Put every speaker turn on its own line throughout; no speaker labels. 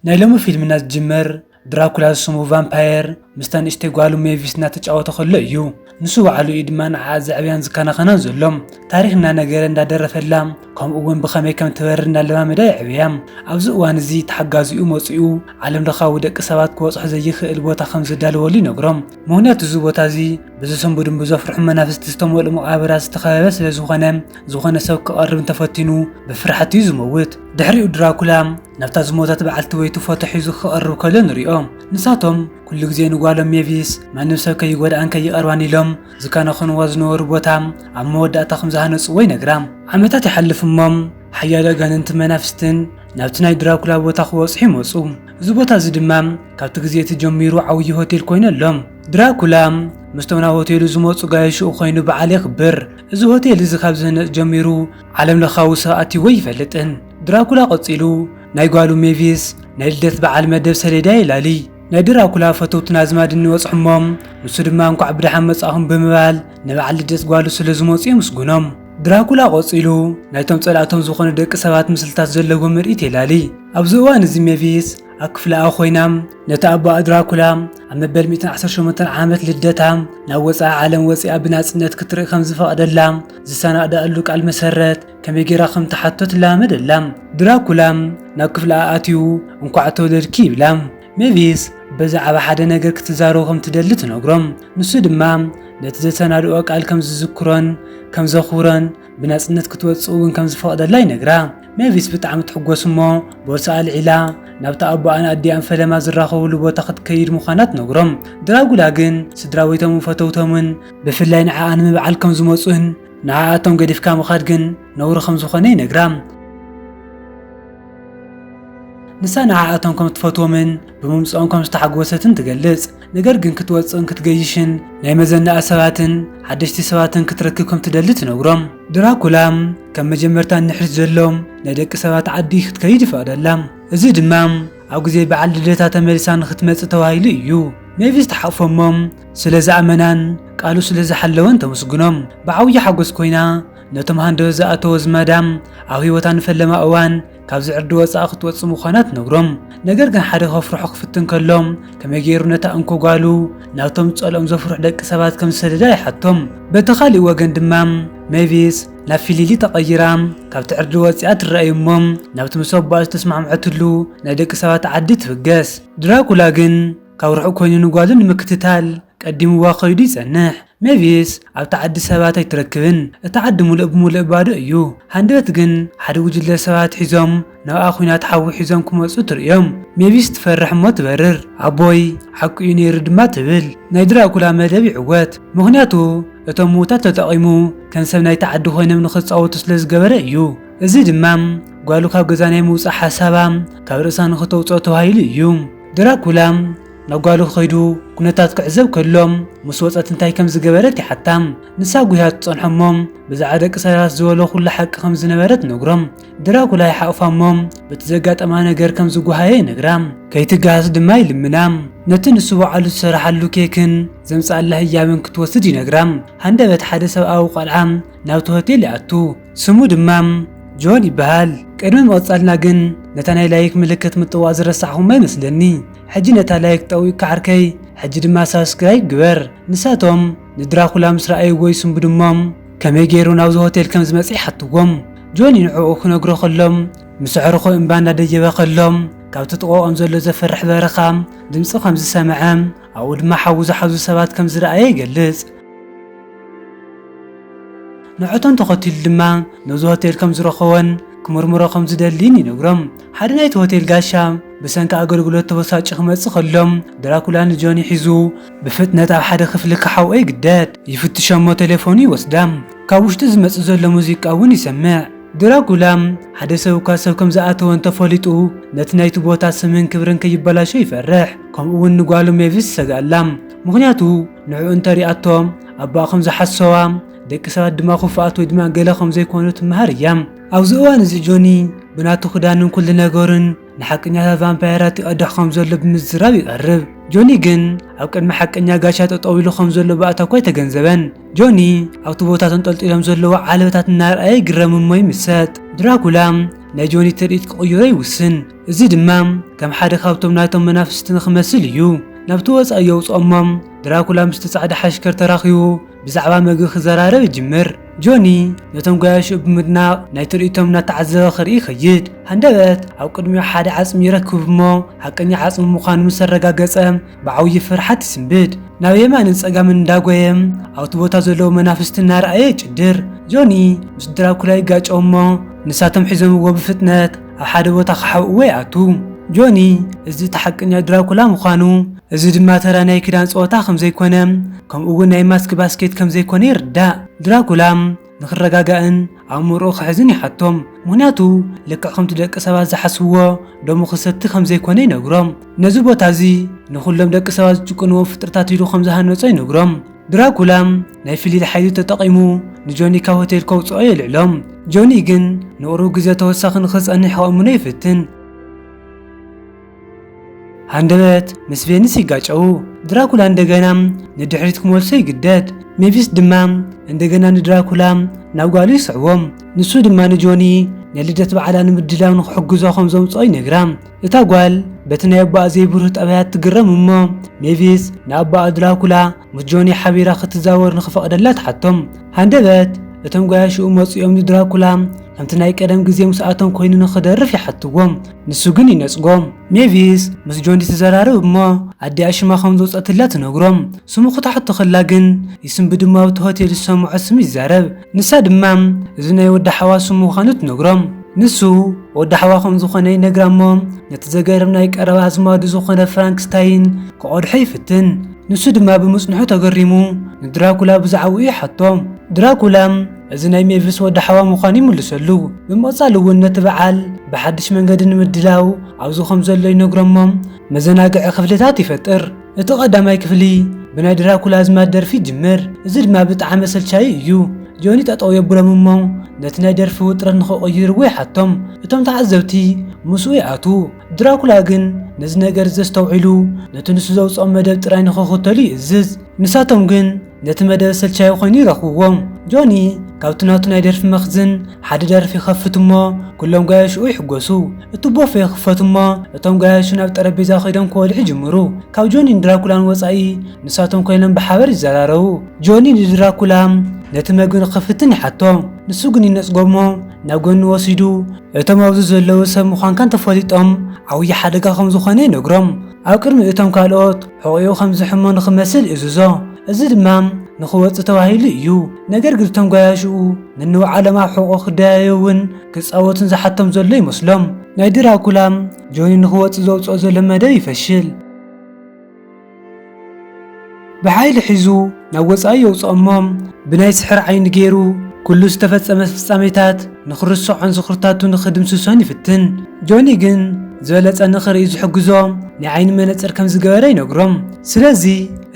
ናይ ሎሚ ፊልምና ዝጅምር ድራኩላ ዝስሙ ቫምፓየር ምስታ ንእሽተይ ጓሉ ሜቪስ እናተጫወተ ከሎ እዩ። ንሱ ባዕሉ እዩ ድማ ንዓኣ ዘዕብያን ዝከናኸናን ዘሎ። ታሪኽ እናነገረ እንዳደረፈላ ከምኡ እውን ብኸመይ ከም ትበርር እናለማመዳ የዕብያ። ኣብዚ እዋን እዚ እቲ ሓጋዚኡ መፂኡ ዓለምለኻዊ ደቂ ሰባት ክበፅሑ ዘይኽእል ቦታ ከም ዘዳልወሉ ይነግሮም። ምኽንያቱ እዚ ቦታ እዚ ብዝስንብዱን ብዘፍርሑን መናፍስቲ ዝተመልኡ መቓብራት ዝተኸበበ ስለዝኾነ ዝኾነ ሰብ ክቐርብ እንተፈቲኑ ብፍርሓት እዩ ዝመውት። ድሕሪኡ ድራኩላ ናብታ ዝሞተት በዓልቲ ወይቱ ፎቶ ሒዙ ክቐርብ ከሎ ንሪኦ። ንሳቶም ኩሉ ግዜ ንጓሎም ሜቪስ ማንም ሰብ ከይጎድኣን ከይቐርባን ኢሎም ዝከናኸንዋ ዝነበሩ ቦታ ኣብ መወዳእታ ከም ዝሃነጽዎ ይነግራ። ዓመታት ይሓልፍ እሞ ሓያሎ ኣጋንንትን መናፍስትን ናብቲ ናይ ድራኩላ ቦታ ክበጽሑ ይመጹ። እዚ ቦታ እዚ ድማ ካብቲ ግዜ እቲ ጀሚሩ ዓብዪ ሆቴል ኮይኑ ኣሎ። ድራኩላ ምስቶም ናብ ሆቴሉ ዝመጹ ጋየሽኡ ኮይኑ በዓል የኽብር። እዚ ሆቴል እዚ ካብ ዝህነጽ ጀሚሩ ዓለምለኻዊ ሰብ ኣትይዎ ኣይፈልጥን ድራኩላ ቀጺሉ ናይ ጓሉ ሜቪስ ናይ ልደት በዓል መደብ ሰሌዳ የላሊ ናይ ድራኩላ ፈተውትን ኣዝማድን ይበጽሑሞ ንሱ ድማ እንኳዕ ብደሓን መጻእኹም ብምባል ንበዓል ልደት ጓሉ ስለ ዝመጹ የምስጉኖም ድራኩላ ቀጺሉ ናይቶም ጸላእቶም ዝኾኑ ደቂ ሰባት ምስልታት ዘለዎ ምርኢት የላሊ ኣብዚ እዋን እዚ ሜቪስ ኣብ ክፍለኣ ኮይና ነቲ ኣቦኣ ድራኩላ ኣብ መበል 118 ዓመት ልደታ ናብ ወፃኢ ዓለም ወፂኣ ብናፅነት ክትርኢ ከም ዝፈቐደላ ዝሰናእዳኣሉ ቃል መሰረት ከመይ ጌራ ከም ትሓቶ ትለማመደላ ድራኩላ ናብ ክፍለኣ ኣትዩ እንኳዕ ተወለድኪ ይብላ ሜቪስ ብዛዕባ ሓደ ነገር ክትዛረቡ ከም ትደሊ ትነግሮም ንሱ ድማ ነቲ ዘሰናድኦ ቃል ከም ዝዝክሮን ከም ዘኽብሮን ብናጽነት ክትወጽእ እውን ከም ዝፈቕደላ ይነግራ። ሜቪስ ብጣዕሚ ትሕጎስ እሞ ቦርሳ ኣልዒላ ናብታ ኣቦኣን ኣዲኣን ፈለማ ዝራኸብሉ ቦታ ክትከይድ ምዃና ትነግሮም። ድራጉላ ግን ስድራቤቶምን ፈተውቶምን ብፍላይ ንዓኣ ንምብዓል ከም ዝመጹን ንዓኣቶም ገዲፍካ ምኻድ ግን ነውሪ ከም ዝኾነ ይነግራ። ንሳ ንዓኣቶም ከም ትፈትዎምን ብምምጽኦም ከም ዝተሓጎሰትን ትገልጽ። ነገር ግን ክትወጽእን ክትገይሽን ናይ መዘናኣ ሰባትን ሓደሽቲ ሰባትን ክትረክብ ከም ትደሊ ትነግሮም። ድራኩላ ከም መጀመርታ ንድሕሪት ዘሎ ናይ ደቂ ሰባት ዓዲ ክትከይድ ይፈቕደላ። እዚ ድማ ኣብ ግዜ በዓል ልደታ ተመሊሳ ንኽትመጽእ ተባሂሉ እዩ። ሜቪስ ትሓቕፎ'ሞ ስለ ዝኣመናን ቃሉ ስለ ዝሓለወን ተምስግኖም። ብዓብዪ ሓጎስ ኮይና ነቶም ሃንደበት ዝኣተዎ ዝማዳ ኣብ ህይወታ ንፈለማ እዋን ካብዚ ዕርዲ ወጻኢ ክትወጽእ ምዃና ትነግሮም። ነገር ግን ሓደ ከፍርሖ ክፍትን ከሎ፣ ከመይ ገይሩ ነታ እንኮ ጓሉ ናብቶም ጸልኦም ዘፍርሑ ደቂ ሰባት ከም ዝሰደዳ ይሓቶም። በቲ ካልእ ወገን ድማ ሜቪስ ናብ ፊሊሊ ተቐይራ ካብቲ ዕርዲ ወጺኣ ትረኣ እዩ እሞ ናብቲ ምስ ኣቦኣ ዝተስማዕምዐትሉ ናይ ደቂ ሰባት ዓዲ ትብገስ። ድራኩላ ግን ካብ ርሑቕ ኮይኑ ንጓሉ ንምክትታል ቀዲምዋ ከይዱ ይጸንሕ ሜቪስ ኣብታ ዓዲ ሰባት ኣይትረክብን እታ ዓዲ ሙሉእ ብሙሉእ ባዶ እዩ ሃንደበት ግን ሓደ ጉጅለ ሰባት ሒዞም ናብኣ ኩናት ሓዊ ሒዞም ክመጹ ትርእዮም ሜቪስ ትፈርሕ እሞ ትበርር ኣቦይ ሓቁ እዩ ነይሩ ድማ ትብል ናይ ድራኩላ መደብ ይዕወት ምኽንያቱ እቶም ምዉታት ተጠቂሙ ከም ሰብ ናይቲ ዓዲ ኮይኖም ንኽጻወቱ ስለ ዝገበረ እዩ እዚ ድማ ጓሉ ካብ ገዛ ናይ ምዉጻእ ሓሳባ ካብ ርእሳ ንኽተዉጽኦ ተባሂሉ እዩ ድራኩላ ናብ ጓሉ ከይዱ ኩነታት ክዕዘብ ከሎ ምስ ወጸት እንታይ ከም ዝገበረት ይሓታ። ንሳ ጉህያ ትጸንሖ እሞ ብዛዕባ ደቂ ሰላስ ዝበሎ ኩሉ ሓቂ ከም ዝነበረ ትነግሮ። ድራኩላ ይሓቑፋ እሞ በቲ ዘጋጠማ ነገር ከም ዝጓሃየ ይነግራ። ከይትጋሃስ ድማ ይልምና። ነቲ ንሱ ባዕሉ ዝሰራሓሉ ኬክን ዘምጽኣላ ህያብን ክትወስድ ይነግራ። ሃንደበት ሓደ ሰብኣዊ ቆልዓ ናብቲ ሆቴል ይኣቱ። ስሙ ድማ ጆን ይበሃል። ቅድሚ ምቕጻልና ግን ነታ ናይ ላይክ ምልክት ምጥዋቕ ዝረሳዕኹማ ይመስለኒ። ሕጂ ነታ ላይክ ጠዊቅካ ዓርከይ ሕጂ ድማ ሳብስክራይብ ግበር። ንሳቶም ንድራኩላ ምስ ረኣይዎ ይስንብዱ እሞ ከመይ ጌሩ ናብዚ ሆቴል ከም ዝመጸ ይሓትዎም። ጆኒ ንዕኡ ክነግሮ ከሎ ምስ ኣዕሩኹ እምባ እናደየበ ከሎ ካብቲ ጥቐኦም ዘሎ ዘፍርሕ በረኻ ድምጺ ከም ዝሰምዐ ኣብኡ ድማ ሓዊ ዝሓዙ ሰባት ከም ዝረኣየ ይገልጽ። ንዕኡቶም ተኸቲሉ ድማ ነዚ ሆቴል ከም ዝረኸቦን ክምርምሮ ከም ዝደሊን ይነግሮም። ሓደ ናይቲ ሆቴል ጋሻ ብሰንኪ ኣገልግሎት ተበሳጭዩ ክመጽእ ከሎ ድራኩላ ንጆኒ ሒዙ ብፍጥነት ኣብ ሓደ ክፍሊ ክሓውኦ ይግደድ። ይፍትሾ'ሞ ቴሌፎኑ ይወስዳ። ካብ ውሽጢ ዝመጽእ ዘሎ ሙዚቃ እውን ይሰምዕ። ድራኩላ ሓደ ሰብ እኳ ሰብ ከም ዝኣተወ እንተ ፈሊጡ ነቲ ናይቲ ቦታ ስምን ክብርን ከይበላሾ ይፈርሕ። ከምኡ'ውን ንጓሉ ሜቪስ ይሰግኣላ። ምኽንያቱ ንዕኡ እንተ ሪኣቶ ኣቦኣ ከም ዝሓሰዋ ደቂ ሰባት ድማ ክፉኣት ወይ ድማ ገለ ከም ዘይኮኑ ትመሃር እያ። ኣብዚ እዋን እዚ ጆኒ ብናቱ ክዳንን ኩሉ ነገሩን ንሓቀኛታት ቫምፓየራት ይቐድሕ ከም ዘሎ ብምዝራብ ይቐርብ። ጆኒ ግን ኣብ ቅድሚ ሓቀኛ ጋሻ ጠጠው ኢሉ ከም ዘሎ ባእታ እኳ ኣይተገንዘበን። ጆኒ ኣብቲ ቦታ ተንጠልጢሎም ዘለዉ ዓለበታት እናርኣየ ይግረም እሞ ይምሰጥ። ድራኩላ ናይ ጆኒ ትርኢት ክቕይሮ ይውስን። እዚ ድማ ከም ሓደ ካብቶም ናይቶም መናፍስቲ ንኽመስል እዩ ናብቲ ወጻኢ የውጽኦ እሞ ድራኩላ ምስቲ ጻዕዳ ሓሽከር ተራኺቡ ብዛዕባ መግቢ ክዘራረብ ይጅምር። ጆኒ ነቶም ገያሾኡ ብምድናቕ ናይ ትርኢቶም እናተዓዘበ ክርኢ ይኸይድ። ሃንደበት ኣብ ቅድሚኡ ሓደ ዓጽሚ ይረክብ እሞ ሓቀኛ ዓጽሚ ምዃኑ ምስ ኣረጋገጸ ብዓብዪ ፍርሓት ይስንብድ። ናብ የማንን ጸጋምን እንዳጎየ ኣብቲ ቦታ ዘለዉ መናፍስቲ እናረኣየ ይጭድር። ጆኒ ምስ ድራኩላ ይጋጨው እሞ ንሳቶም ሒዞምዎ ብፍጥነት ኣብ ሓደ ቦታ ክሓብእዎ ይኣትው። ጆኒ እዚ እቲ ሓቀኛ ድራኩላ ምዃኑ፣ እዚ ድማ ተራ ናይ ክዳን ጸወታ ከም ዘይኮነ፣ ከምኡ'ውን ናይ ማስክ ባስኬት ከም ዘይኮነ ይርዳእ። ድራኩላ ንኽረጋጋእን ኣእምሮኡ ክሕዝን ይሓቶ፣ ምኽንያቱ ልክዕ ከምቲ ደቂ ሰባት ዝሓስብዎ ደሙ ክሰቲ ከም ዘይኮነ ይነግሮ። ነዚ ቦታ እዚ ንኹሎም ደቂ ሰባት ዝጭቁንዎም ፍጥረታት ኢሉ ከም ዝሃነጾ ይነግሮ። ድራኩላ ናይ ፍሊል ሓይሉ ተጠቒሙ ንጆኒ ካብ ሆቴል ከውጽኦ የልዕሎ። ጆኒ ግን ንቕሩብ ግዜ ተወሳኺ ንኽጸንሕ ከእምኖ ይፍትን። ሃንደበት ምስ ቬኒስ ይጋጨው። ድራኩላ እንደገና ንድሕሪት ክመልሶ ይግደድ። ሜቪስ ድማ እንደገና ንድራኩላ ናብ ጓሉ ይስዕቦ። ንሱ ድማ ንጆኒ ናይ ልደት በዓላ ንምድላው ንኽሕግዞ ከም ዘምጽኦ ይነግራ። እታ ጓል በቲ ናይ ኣቦኣ ዘይብሩህ ጠባያት ትግረም እሞ ሜቪስ ንኣቦኣ ድራኩላ ምስ ጆኒ ሓቢራ ክትዛወር ንኽፈቕደላ ትሓቶ። ሃንደበት እቶም ገያሾኡ መጺኦም ንድራኩላ ከምቲ ናይ ቀደም ግዜ ምስኣቶም ኮይኑ ንኽደርፍ ይሓትዎ፣ ንሱ ግን ይነጽጎ። ሜቪስ ምስ ጆኒ ትዘራረብ እሞ ኣዲኣ ሽማ ከም ዘውጸትላ ትነግሮ። ስሙ ክትሓቶ ከላ ግን ይስምብድ እሞ ኣብቲ ሆቴል ዝሰምዖ ስም ይዛረብ። ንሳ ድማ እዚ ናይ ወዲ ሓዋ ስም ምዃኑ ትነግሮም። ንሱ ወዲ ሓዋ ከም ዝኾነ ይነግራ እሞ ነቲ ዘገርም ናይ ቀረባ ኣዝማዱ ዝኾነ ፍራንክስታይን ክቐድሖ ይፍትን። ንሱ ድማ ብምጽንሑ ተገሪሙ ንድራኩላ ብዛዕባኡ ይሓቶ። ድራኩላ እዚ ናይ ሜቪስ ወዲ ሓዋ ምዃኑ ይምልሰሉ። ብምቕጻል እውን ነቲ በዓል ብሓድሽ መንገዲ ንምድላው ኣብዚ ከም ዘሎ ይነግሮም እሞ መዘናግዒ ክፍልታት ይፈጥር። እቲ ቀዳማይ ክፍሊ ብናይ ድራኩላ ኣዝማድ ደርፊ ይጅምር፣ እዚ ድማ ብጣዓሚ ኣሰልቻዪ እዩ። ጆኒ ጠጠው የብሎም እሞ ነቲ ናይ ደርፊ ውጥረት ንክቕይርዎ ይሓቶም፣ እቶም ተዓዘብቲ ምስኡ ይኣትዉ። ድራኩላ ግን ነዚ ነገር እዚ ዘስተውዒሉ ነቲ ንሱ ዘውጽኦ መደብ ጥራይ ንክኽተሉ ይእዝዝ። ንሳቶም ግን ነቲ መደብ ሰልቻዊ ኮይኑ ይረኽብዎ። ጆኒ ካብቲ ናቱ ናይ ደርፊ መኽዝን ሓደ ደርፊ ይኸፍት እሞ ኩሎም ጋያሹኡ ይሕጎሱ። እቲ ቦፌ ይኽፈት እሞ እቶም ጋያሹ ናብ ጠረጴዛ ከይዶም ክበልዑ ይጅምሩ። ካብ ጆኒን ድራኩላን ወጻኢ ንሳቶም ኮይኖም ብሓበር ይዘራረቡ። ጆኒ ንድራኩላ ነቲ መግቢ ንኽፍትን ይሓቶ። ንሱ ግን ይነጽጎ እሞ ናብ ጎኒ ወሲዱ እቶም ኣብዚ ዘለዉ ሰብ ምዃንካ እንተፈሊጦም ዓብዪ ሓደጋ ከም ዝኾነ ይነግሮም። ኣብ ቅድሚ እቶም ካልኦት ሕቖኡ ከም ዝሕሞ ንኽመስል እእዝዞ። እዚ ድማ ንኽወጽእ ተባሂሉ እዩ። ነገር ግን እቶም ጓያሹኡ ነንባዕሎም ኣብ ሕቖኡ ክደያየቡን ክጻወቱን ዝሓቶም ዘሎ ይመስሎም። ናይ ድራኩላ ጆኒ ንኽወጽእ ዘውጽኦ ዘሎ መደብ ይፈሽል። ብሓይሊ ሒዙ ናብ ወጻኢ የውጽኦሞ ብናይ ስሕር ዓይኒ ገይሩ ኩሉ ዝተፈጸመ ፍጻሜታት ንኽርሶዖን ዝኽርታቱ ንኽድምስሶን ይፍትን ጆኒ ግን ዝበለጸ ንኽርኢ ዝሕግዞ ናይ ዓይኒ መነጽር ከም ዝገበረ ይነግሮም ስለዚ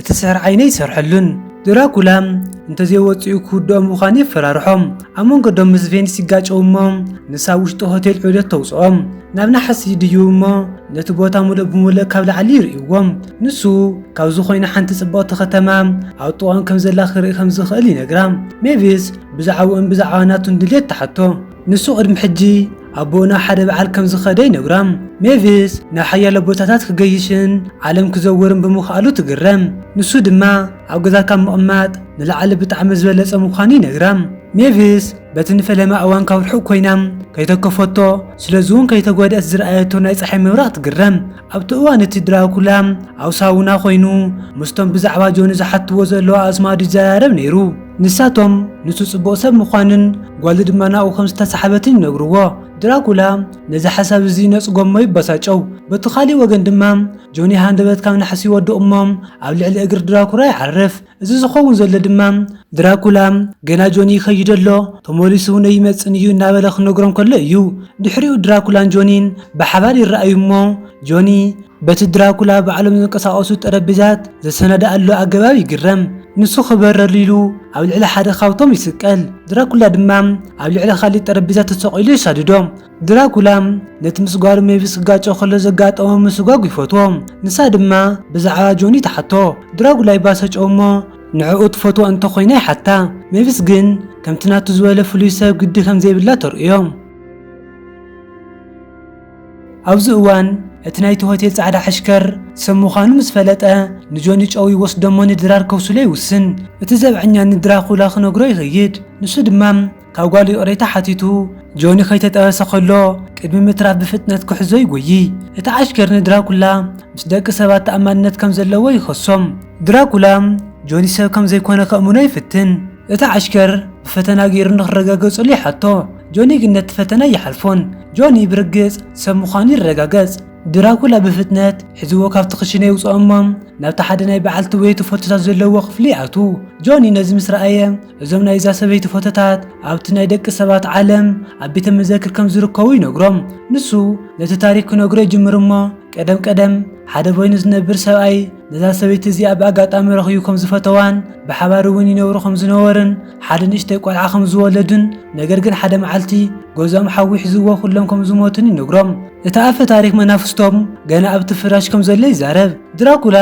እቲ ስሕር ዓይኒ ኣይሰርሐሉን ድራኩላ እንተዘይወጺኡ ክውድኦ ምዃኑ የፈራርሖም ኣብ መንገዶም ምስ ቬኒስ ይጋጨው እሞ ንሳ ኣብ ውሽጢ ሆቴል ዑደት ተውጽኦም ናብ ናሕሲ ይድይቡ እሞ ነቲ ቦታ ሙሉእ ብሙሉእ ካብ ላዕሊ ይርእይዎም ንሱ ካብዚ ኮይኑ ሓንቲ ጽብቕቲ ከተማ ኣብ ጥቓኦም ከም ዘላ ክርኢ ከም ዝኽእል ይነግራ። ሜቪስ ብዛዕባኡን ብዛዕባ ናቱን ድሌት ትሓቶ። ንሱ ቅድሚ ሕጂ ኣቦኡ ናብ ሓደ በዓል ከም ዝኸደ ይነግራ። ሜቪስ ናብ ሓያሎ ቦታታት ክገይሽን ዓለም ክዘውርን ብምኽኣሉ ትግረም። ንሱ ድማ ኣብ ገዛ ካብ ምቕማጥ ንላዕሊ ብጣዕሚ ዝበለጸ ምዃኑ ይነግራ። ሜቪስ በቲ ንፈለማ እዋን ካብ ርሑቕ ኮይና ከይተከፈቶ ስለዚ'ውን ከይተጓድኣት ዝረኣየቶ ናይ ጸሓይ ምብራቕ ትግረም። ኣብቲ እዋን እቲ ድራኩላ ኣብ ሳውና ኮይኑ ምስቶም ብዛዕባ ጆኒ ዝሓትዎ ዘለዉ ኣዝማዱ ይዘራረብ ነይሩ። ንሳቶም ንሱ ጽቡቕ ሰብ ምዃኑን ጓሉ ድማ ናብኡ ከም ዝተሳሕበትን ይነግርዎ። ድራኩላ ነዚ ሓሳብ እዚ ይነጽጎ እሞ ይበሳጨው። በቲ ካልእ ወገን ድማ ጆኒ ሃንደበት ካብ ናሕሲ ይወድቕ እሞ ኣብ ልዕሊ እግሪ ድራኩራ ይዓርፍ። እዚ ዝኸውን ዘሎ ድማ ድራኩላ ገና ጆኒ ይኸይድ ኣሎ፣ ተመሊሱ እውን ኣይመጽእን እዩ እናበለ ክነግሮም ከሎ እዩ። ድሕሪኡ ድራኩላን ጆኒን ብሓባር ይረኣዩ እሞ ጆኒ በቲ ድራኩላ ባዕሎም ዝንቀሳቐሱ ጠረጴዛት ዘሰናድኣሉ ኣገባብ ይግረም። ንሱ ክበረሉ ኢሉ ኣብ ልዕሊ ሓደ ካብቶም ይስቀል፣ ድራኩላ ድማ ኣብ ልዕሊ ካልእ ጠረጴዛ ተሰቒሉ የሳድዶ። ድራኩላ ነቲ ምስ ጓሉ ሜቪስ ክጋጮ ከሎ ዘጋጠሞ ምስጓግ ይፈትዎ። ንሳ ድማ ብዛዕባ ጆኒ ትሓቶ። ድራኩላ ይባሰጮ እሞ ንዕኡ ትፈትዎ እንተ ኾይና ይሓታ። ሜቪስ ግን ከምቲ ናቱ ዝበለ ፍሉይ ሰብ ግዲ ከም ዘይብላ ተርእዮ። ኣብዚ እዋን እቲ ናይቲ ሆቴል ጻዕዳ ሓሽከር ሰብ ምዃኑ ምስ ፈለጠ ንጆኒ ጨው ይወስዶሞ ንድራር ከውስሎ ይውስን። እቲ ዘብዐኛ ንድራኩላ ክነግሮ ይኸይድ። ንሱ ድማ ካብ ጓሉ ይቕሬታ ሓቲቱ ጆኒ ከይተጠበሰ ከሎ ቅድሚ ምትራፍ ብፍጥነት ክሕዞ ይጎዪ። እቲ ዓሽከር ንድራኩላ ምስ ደቂ ሰባት ተኣማንነት ከም ዘለዎ ይኸሶም። ድራኩላ ጆኒ ሰብ ከም ዘይኮነ ከእምኖ ይፍትን። እቲ ዓሽከር ብፈተና ገይሩ ንክረጋገጸሉ ይሓቶ፣ ጆኒ ግን ነቲ ፈተና ኣይሓልፎን። ጆኒ ብርግጽ ሰብ ምዃኑ ይረጋገጽ። ድራኩላ ብፍጥነት ሒዝዎ ካብቲ ክሽነ የውጽኦ እሞ ናብቲ ሓደ ናይ በዓልቲ ወየቲ ፎቶታት ዘለዎ ክፍሊ ይኣትው። ጆኒ ነዚ ምስ ረኣየ እዞም ናይ እዛ ሰበይቲ ፎቶታት ኣብቲ ናይ ደቂ ሰባት ዓለም ኣብ ቤተ መዘክር ከም ዝርከቡ ይነግሮም ንሱ ነቲ ታሪክ ክነግሮ ይጅምር እሞ ቀደም ቀደም ሓደ በይኑ ዝነብር ሰብኣይ ነዛ ሰበይቲ እዚኣ ብኣጋጣሚ ረኽዩ ከም ዝፈተዋን ብሓባር እውን ይነብሩ ከም ዝነበርን ሓደ ንእሽተይ ቆልዓ ከም ዝወለዱን ነገር ግን ሓደ መዓልቲ ገዝኦም ሓዊ ሒዝዎ ኩሎም ከም ዝሞቱን ይነግሮም እቲ ኣፈ ታሪክ መናፍስቶም ገና ኣብቲ ፍራሽ ከም ዘሎ ይዛረብ ድራኩላ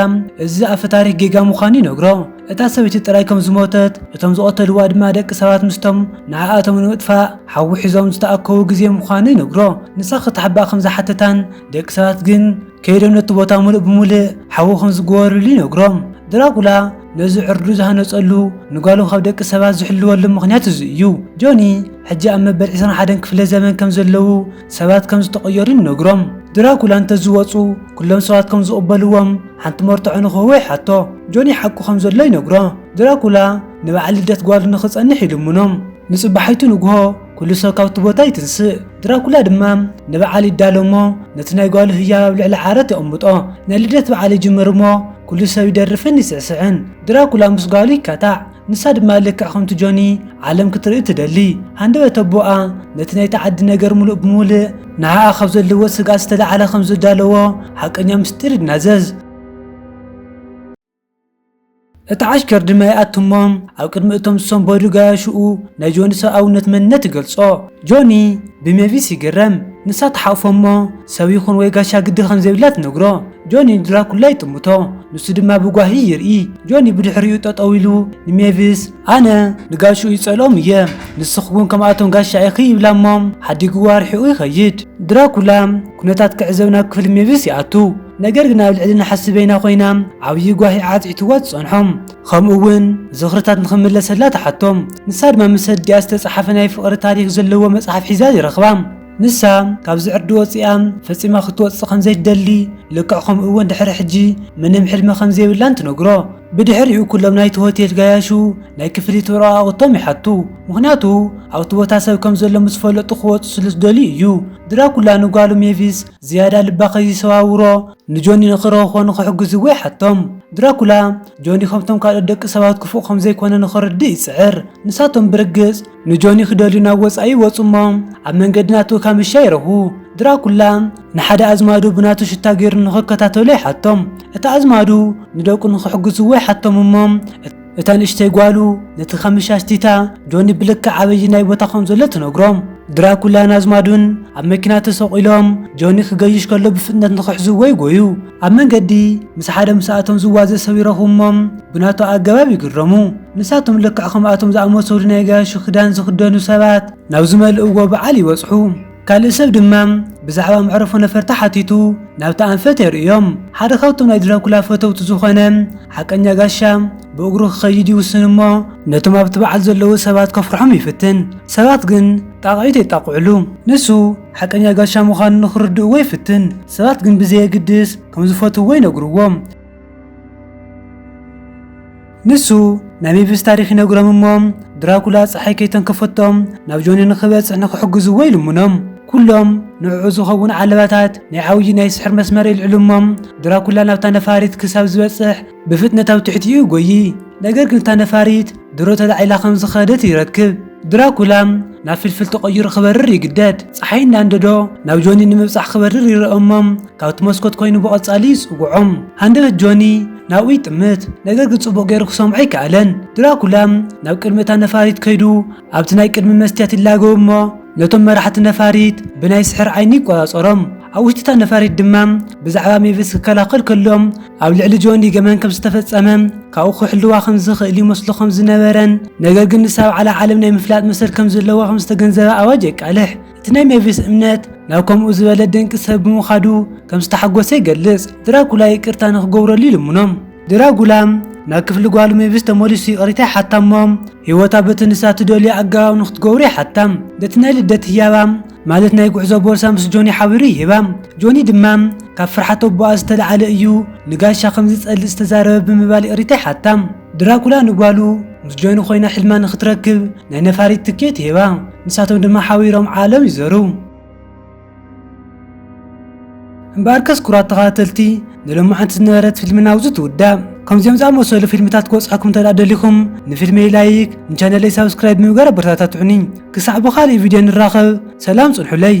እዚ ኣፈ ታሪክ ጌጋ ምዃኑ ይነግሮ እታ ሰበይቲ ጥራይ ከም ዝሞተት፣ እቶም ዝቐተልዋ ድማ ደቂ ሰባት ምስቶም ንዓኣቶም ንምጥፋእ ሓዊ ሒዞም ዝተኣከቡ ግዜ ምዃኑ ይነግሮ። ንሳ ክትሓብኣ ከም ዝሓተታን ደቂ ሰባት ግን ከይዶም ነቲ ቦታ ምሉእ ብምሉእ ሓዊ ከም ዝጎወርሉ ይነግሮ። ድራኩላ ነዚ ዕርዱ ዝሃነጸሉ ንጓሉ ካብ ደቂ ሰባት ዝሕልወሉ ምኽንያት እዚ እዩ። ጆኒ ሕጂ ኣብ መበል ዕስራን ሓደን ክፍለ ዘመን ከም ዘለዉ፣ ሰባት ከም ዝተቐየሩ ይነግሮም። ድራኩላ እንተዝወጹ ኩሎም ሰባት ከም ዝቕበልዎም ሓንቲ መርትዖ ንክህቦ ይሓቶ። ጆኒ ሓቁ ከም ዘሎ ይነግሮ። ድራኩላ ንበዓል ልደት ጓሉ ንክጸንሕ ይልምኖ። ንጽባሒቱ ንግሆ ኩሉ ሰብ ካብቲ ቦታ ይትንስእ። ድራኩላ ድማ ንበዓል ይዳሎ እሞ ነቲ ናይ ጓሉ ህያብ ኣብ ልዕሊ ዓራት የቐምጦ። ናይ ልደት በዓል ይጅምር እሞ ኩሉ ሰብ ይደርፍን ይስዕስዕን። ድራኩላ ምስ ጓሉ ይካታዕ። ንሳ ድማ ልክዕ ከምቲ ጆኒ ዓለም ክትርኢ ትደሊ ሃንደበት ኣቦኣ ነቲ ናይቲ ዓዲ ነገር ምሉእ ብምሉእ ንዓኣ ካብ ዘለዎ ስግኣት ዝተላዕለ ከም ዝዳለዎ ሓቀኛ ምስጢር ይናዘዝ። እቲ ዓሽከር ድማ ይኣቱ እሞ ኣብ ቅድሚ እቶም ዝሰንበዱ ጋያሹኡ ናይ ጆኒ ሰብኣውነት መንነት ይገልጾ። ጆኒ ብሜቪስ ይግረም። ንሳ ትሓቕፎ እሞ ሰብ ይኹን ወይ ጋሻ ግዲ ከም ዘይብላ ትነግሮ። ጆኒ ንድራኩላ ይጥምቶ፣ ንሱ ድማ ብጓሂ ይርኢ። ጆኒ ብድሕሪኡ ጠጠው ኢሉ ንሜቪስ፣ ኣነ ንጋሽኡ ይጸልኦም እየ፣ ንስኺ'ውን ከምኣቶም ጋሻ ኢኺ ይብላ እሞ ሓዲግዎ ኣርሒቑ ይኸይድ። ድራኩላ ኩነታት ክዕዘብ ናብ ክፍሊ ሜቪስ ይኣቱ፣ ነገር ግን ኣብ ልዕሊ ነሓስ በይና ኮይና ዓብዪ ጓሂ ዓጽዒትዋ ትጸንሖ፣ ከምኡ'ውን ዝኽርታት ንኽምለሰላ ትሓቶ። ንሳ ድማ ምስ ኣዲኣ ዝተጻሓፈ ናይ ፍቕሪ ታሪኽ ዘለዎ መጽሓፍ ሒዛ ይረኽባ። ንሳ ካብዚ ዕርዲ ወጺኣ ፈጺማ ክትወጽእ ከም ዘይትደሊ፣ ልክዕ ከምኡ'ውን ድሕሪ ሕጂ ምንም ሕልሚ ከም ዘይብላን ትነግሮ። ብድሕሪኡ ኩሎም ናይቲ ሆቴል ጋያሹ ናይ ክፍሊት ወረቓቕቶም ይሓቱ፣ ምኽንያቱ ኣብቲ ቦታ ሰብ ከም ዘሎ ምስ ፈለጡ ክወጹ ስለ ዝደልዩ እዩ። ድራኩላ ንጓሉ ሜቪስ ዝያዳ ልባ ከይሰባብሮ ንጆኒ ንኽረኽቦን ንኽሕግዝዎ ይሓቶም። ድራኩላ ጆኒ ከምቶም ካልኦት ደቂ ሰባት ክፉእ ከም ዘይኰነ ንኽርድእ ይጽዕር፣ ንሳቶም ብርግጽ ንጆኒ ክደልዩ ናብ ወጻኢ ይወጹ እሞ ኣብ መንገዲ ናቱ ካምሻ ይረኽቡ። ድራኩላ ንሓደ ኣዝማዱ ብናቱ ሽታ ገይሩ ንኽከታተሎ ይሓቶም። እቲ ኣዝማዱ ንደቁ ንኽሕግዝዎ ይሓቶም እሞ እታ ንእሽተይ ጓሉ ነቲ ካምሻሽ ቲታ ጆኒ ብልክዕ ኣበየናይ ቦታ ከም ዘሎ ትነግሮም። ድራኩላን ኣዝማዱን ኣብ መኪና ተሰቒሎም ጆኒ ክገይሽ ከሎ ብፍጥነት ንኽሕዝዎ ይጎዩ። ኣብ መንገዲ ምስ ሓደ ምስኣቶም ዝዋዘ ሰብ ይረኽቡ እሞ ብናቱ ኣገባብ ይግረሙ። ንሳቶም ልክዕ ከምኣቶም ዝኣመሰሉ ናይ ጋያሹ ክዳን ዝኽደኑ ሰባት ናብ ዝመልእዎ በዓል ይበጽሑ። ካልእ ሰብ ድማ ብዛዕባ መዕርፎ ነፈርቲ ሓቲቱ ናብታ ኣንፈት የርእዮም። ሓደ ካብቶም ናይ ድራኩላ ፈተውቲ ዝኾነ ሓቀኛ ጋሻ ብእግሩ ክኸይድ ይውስን እሞ ነቶም ኣብቲ በዓል ዘለዉ ሰባት ከፍርሖም ይፍትን። ሰባት ግን ጣቕዒት የጣቕዕሉ። ንሱ ሓቀኛ ጋሻ ምዃኑ ንኽርድእዎ ይፍትን፣ ሰባት ግን ብዘየግድስ ከም ዝፈትውዎ ይነግርዎም። ንሱ ናይ ሜቪስ ታሪኽ ይነግሮም እሞ ድራኩላ ጸሓይ ከይተንከፈቶም ናብ ጆኒ ንኽበጽሕ ንኽሕግዝዎ ይልምኖም። ኩሎም ንዕዑ ዝኸውን ዓለባታት ናይ ዓውዪ ናይ ስሕር መስመር የልዕሉ እሞ ድራኩላ ናብታ ነፋሪት ክሳብ ዝበጽሕ ብፍጥነት ኣብ ትሕቲኡ ጎዪ፣ ነገር ግን እታ ነፋሪት ድሮ ተላዒላ ከም ዝኸደት ይረክብ። ድራኩላ ናብ ፍልፍል ተቐይሩ ክበርር ይግደድ። ጸሓይ እናንደዶ ናብ ጆኒ ንምብጻሕ ክበርር ይረኦ እሞ ካብቲ መስኮት ኮይኑ ብቐጻሊ ይጽውዖ። ሃንደበት ጆኒ ናብኡ ይጥምት፣ ነገር ግን ጽቡቕ ገይሩ ክሰምዖ ኣይከኣለን። ድራኩላ ናብ ቅድሚ እታ ነፋሪት ከይዱ ኣብቲ ናይ ቅድሚ መስትያት ይላገቡ እሞ ነቶም መራሕቲ ነፋሪት ብናይ ስሕር ዓይኒ ይቆጻጸሮም። ኣብ ውሽጢ እታ ነፋሪት ድማ ብዛዕባ ሜቪስ ክከላኸል ከሎ ኣብ ልዕሊ ጆኒ ገበን ከም ዝተፈጸመ ካብኡ ክሕልዋ ከም ዝኽእል ይመስሎ ከም ዝነበረን ነገር ግን ንሳ ኣብ ዓላ ዓለም ናይ ምፍላጥ መሰል ከም ዘለዋ ከም ዝተገንዘበ ኣዋጅ የቃልሕ። እቲ ናይ ሜቪስ እምነት ናብ ከምኡ ዝበለ ደንቂ ሰብ ብምኻዱ ከም ዝተሓጎሰ ይገልጽ። ድራኩላ ይቅርታ ንክገብረሉ ይልምኖም። ድራጉላ ናብ ክፍሊ ጓሉ ሜቪስ ተመሊሱ ይቅሪታ ይሓታ እሞ ህይወታ በቲ ንሳ ትደልዮ ኣገባብ ንክትገብሮ ይሓታ። በቲ ናይ ልደት ህያባ ማለት ናይ ጉዕዞ ቦርሳ ምስ ጆኒ ሓቢሩ ይህባ። ጆኒ ድማ ካብ ፍርሓት ኣቦኣ ዝተለዓለ እዩ ንጋሻ ከም ዝጸልእ ዝተዛረበ ብምባል ይቅሪታ ይሓታ። ድራኩላ ንጓሉ ምስ ጆኒ ኮይና ሕልማ ንክትረክብ ናይ ነፋሪት ትኬት ይህባ፣ ንሳቶም ድማ ሓቢሮም ዓለም ይዘሩ። እምበኣርከስ ክቡራት ተኸታተልቲ ንሎማዕንቲ ዝነበረት ፊልምና ኣብዚ ትውዳእ። ከምዚኦም ዝኣመሰሉ ፊልምታት ክበጽሐኩም እንተድኣ ደሊኹም ንፊልመይ ላይክ ንቻነለይ ሳብስክራይብ ብምግባር ኣበረታታትዑኒ። ክሳዕ ብኻልእ ቪድዮ ንራኸብ ሰላም ጽንሑለይ።